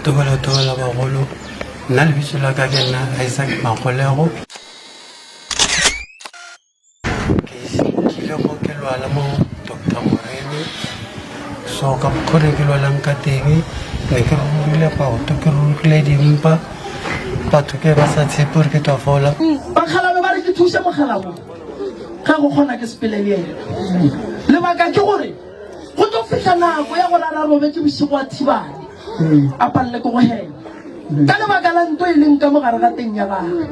Tobela tobela bagolo nna lebitso la ka ke nna Isaac Magolego ke ile go ke lwala mo Dr. Moremi so ka mokgone ke lwalang ka teng ne ke rurile paoto ke rurukile dimpa batho ke ba sa tshepe gore ke tswa fola bakgalalo ba re ke thuse mokgalabo ga go kgona ke sepele le ena lebaka ke gore go tlo fitlha nako ya go rara robetse bosigo wa thibane a palele ke go hela ka lebaka la nto e leng ka mogare ga teng ya gagwe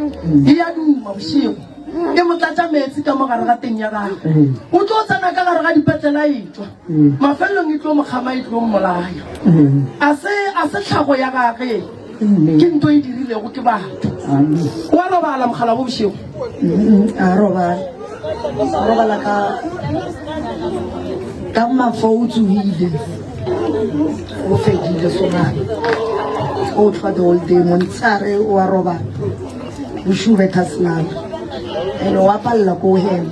e ya duma bošego e mo tlatša meetse ka mogare ga teng ya gagwe o tlo tsena ka gare ga dipetlela e tšwa mafelelong e tlo mokgama e tlo mmolaya a se a se tlhago ya gage ke nto e dirilego ke batho wa robala mogala bo bošego a robala robala ka ka mafo o tsogile o fedile sonane o tlhwa the whole day montsare wa robala boshiu betha selala ene wa palela ko hema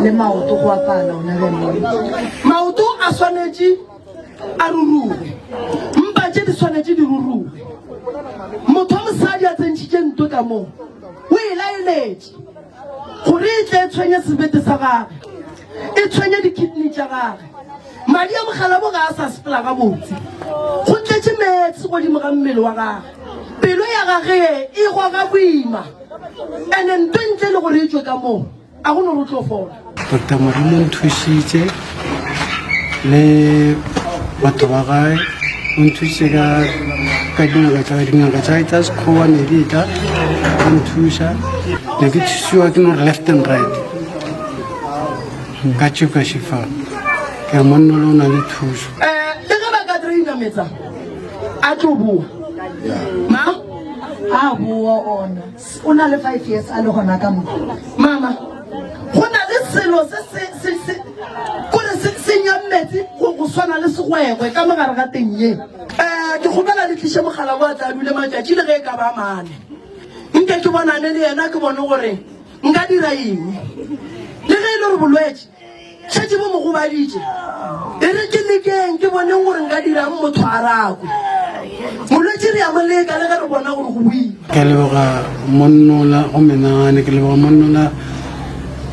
le maoto go apala ona maoto a swanetše a ruruge mpa tše di tshwanetše di ruruge motho wa mosadi a tsentšhitše nto ka moo o e laeletše gore e tle e tshwenye sebete sa gage e tshwenye dikidney tša gage madi a mogalaboga a sa sepela gabotse go tletše meetse godimo ga mmele wa gage pelo ya gage e goga boima ande nto ntle le gore e tswe ka moo A go no re o tlo fola. Doctor Modimo nthušitše le batho ba gae o nthušitše ka ka dingaka tsa dingaka tsa tsa sekgowa ne di tla ba nthuša ne ke thusiwa ke no left and right ka tšuka shifa ke a monna le o na le thušo eh, le ge ba ka traina metsa a tlo boa ma a boa ona O na le five years a le gona ka mo. Mama, go na le selo se se se se kore se se nyammetsi go go swana le segwegwe ka mogare ga teng ye. Eh, ke kgopela le tliše mogala wa tla dule matšatši le ge e ka ba mane. Nke ke bonane le yena ke bone gore nka dira eng. Le ge e le gore bolwetši Šetše bo mo gobaditše. E re ke lekeng ke boneng gore nka dirang motho a rakwe. Molwetši re ya mo leka le ge re bona gore go boima. Ke leboga monnola go menagane ke leboga monnola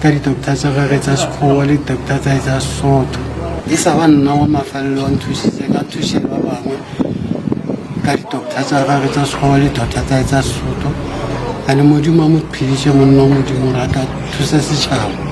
ka di-doctor tsa gage tsa sekgowa le di-doctor tsa e tsa sotho e sa ba nna wa mafelelo a nthusitse ka thušeng ba bangwe ka ditokla tsa gage tsa sekgowa le dotla tsa tsa sesotho a le modimo a mo phediše monna wa modimo rata thusa setšhaba